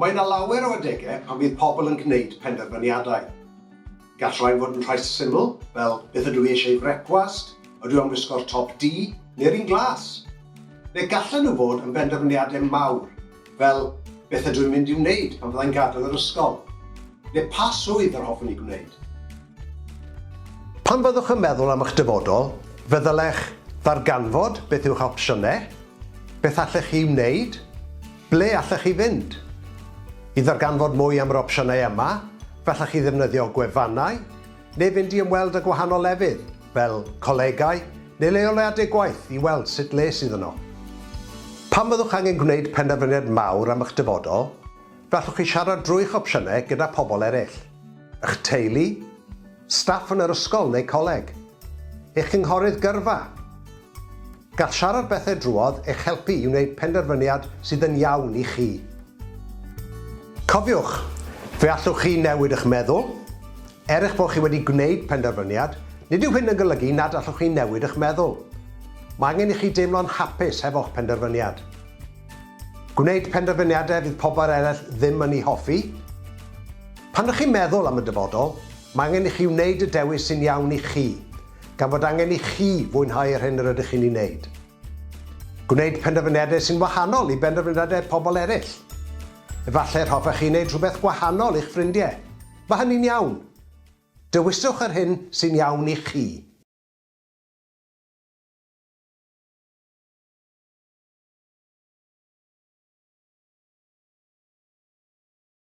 Mae yna lawer o adegau pan fydd pobl yn gwneud penderfyniadau. Gall rhai fod yn rhai syml, fel beth ydw i eisiau i frecwast, ydw i am wisgo'r top du neu'r un glas? Neu gallen nhw fod yn benderfyniadau mawr, Fel, beth ydw i'n mynd i'w wneud pan fyddai'n gadael yr ysgol? Neu pa swydd yr hoffwn i gwneud? Pan fyddwch yn meddwl am eich dyfodol, fe ddylech ddarganfod beth yw'ch opsiynau, beth allech chi wneud, ble allech chi fynd. I ddarganfod mwy am yr opsiynau yma, fe allech chi ddefnyddio gwefannau, neu fynd i ymweld â gwahanol lefydd, fel colegau neu leoliadau gwaith, i weld sut le sydd yno. Pan fyddwch angen gwneud penderfyniad mawr am eich dyfodol, fe allwch chi siarad drwy'ch opsiynau gyda phobl eraill, eich teulu, staff yn yr ysgol neu coleg, eich cynghorydd gyrfa, Gall siarad bethau drwodd eich helpu i wneud penderfyniad sydd yn iawn i chi. Cofiwch, fe allwch chi newid eich meddwl. Er eich bod chi wedi gwneud penderfyniad, nid yw hyn yn golygu nad allwch chi newid eich meddwl. Mae angen i chi deimlo'n hapus hefo'ch penderfyniad. Gwneud penderfyniadau fydd pobl eraill ddim yn eu hoffi. Pan ydych chi'n meddwl am y dyfodol, mae angen i chi wneud y dewis sy'n iawn i chi. gan fod angen i chi fwynhau yr hyn yr ydych chi'n ei wneud. Gwneud penderfyniadau sy'n wahanol i benderfyniadau pobl eraill. Efallai yr hoffech chi wneud rhywbeth gwahanol i'ch ffrindiau. Mae hynny'n iawn. Dewiswch yr hyn sy'n iawn i chi.